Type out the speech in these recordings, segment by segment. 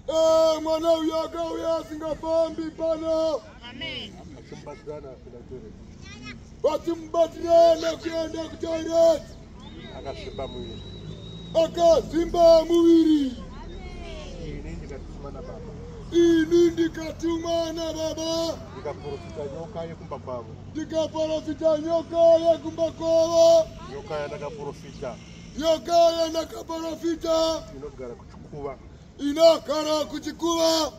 Eh, mwana uyo akauya asingafambi pano vatimubatirana kuenda kutoilet akazvimba muviri akazvimba muviri ini ndikatuma nababa ndikaprofita nyoka yekumba kwavo ndikaprofita nyoka yekumba kwavo nyoka yandakaprofita yakaenda kaprofita inogara kuchikuva inogara kuchikuva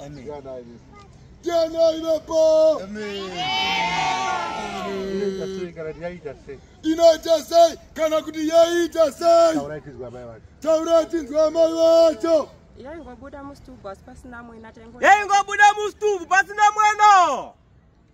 tianai vapo inoita sei kana kuti yaita sei taurai tinzwa amai vacho yaingobuda mustubu pasina mwena yaingobuda mustubu pasina mwena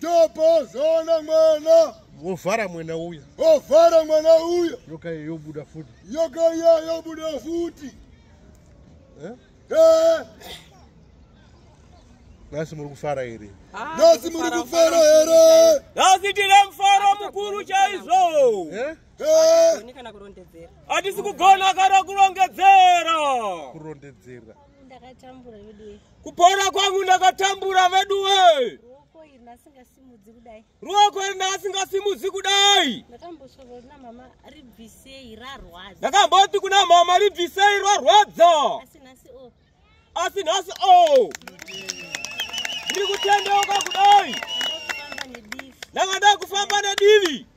Topo zona mwana. Wovhara mwana uya. Wovhara mwana uya. Yoka yobuda futi. Yoka yobuda futi. Eh? Eh. Nasi muri kufara here? Ah, Nasi muri kufara here? Nasi tine mufaro mukuru chaizvo. Eh? Eh. Hatisi kugona kana kurondedzera. Kurondedzera. Ndakatambura vedu. Kupora kwangu ndakatambura veduwe. Ruoko iri ndasingasimudzi kudai. Ruoko iri ndasingasimudzi kudai. Ndakambosvika kuna mama ribvisei rarwadza. Ndakamboti kuna mama ribvisei rarwadza. Asi nhasi o. Oh. Asi nhasi o. Oh. Ndiri kutendeuka kudai. Ndakada kufamba nedivi.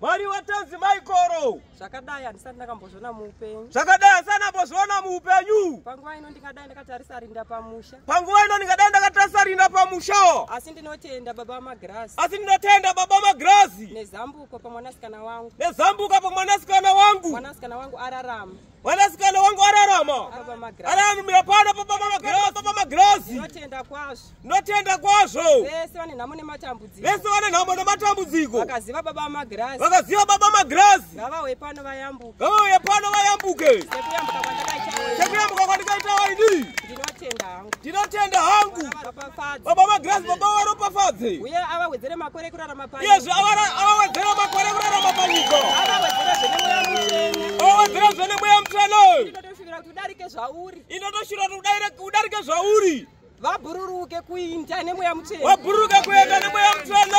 Mwari watanzi Michael. Zvakadai handisati ndakambozviona muupenyu. Zvakadai handisati ndakambozviona muupenyu. Panguva ino ndingadai ndakatarisa rinda pamusha. Panguva ino ndingadai ndakatarisa rinda pamusha. Asi ndinotenda baba vamagirazi. Asi ndinotenda baba vamagirazi. Nezambuko pamwanasikana wangu. Nezambuko pamwanasikana wangu. Mwanasikana wangu ararama. Mwanasikana wangu ararama. Anamira pano papa mama Grace, papa mama Grace. Ndinotenda kwazvo. Ndinotenda kwazvo. Vese vane nhamo nematambudziko. Vese vane nhamo nematambudziko. Vakaziva baba mama Grace. Vakaziva baba mama Grace. Ngavauye pano vayambuke. Ngavauye pano vayambuke. Sekuyambuka kwandakaita. Sekuyambuka kwandakaita waini. Ndinotenda. ndinotenda hangu baba magrasi baba varopafadze uye avawedzere makore ekurarama panyika iyezve avawedzere makore ekurarama panyika avawedzere zvene mweya mutsvene avawedzere zvene mweya mutsvene inotoshuvira kuti udarike zvauri inotoshuvira kuti udarike zvauri vabhururuke kuinda nemweya mutsvene vabhururuke kuenda nemweya mutsvene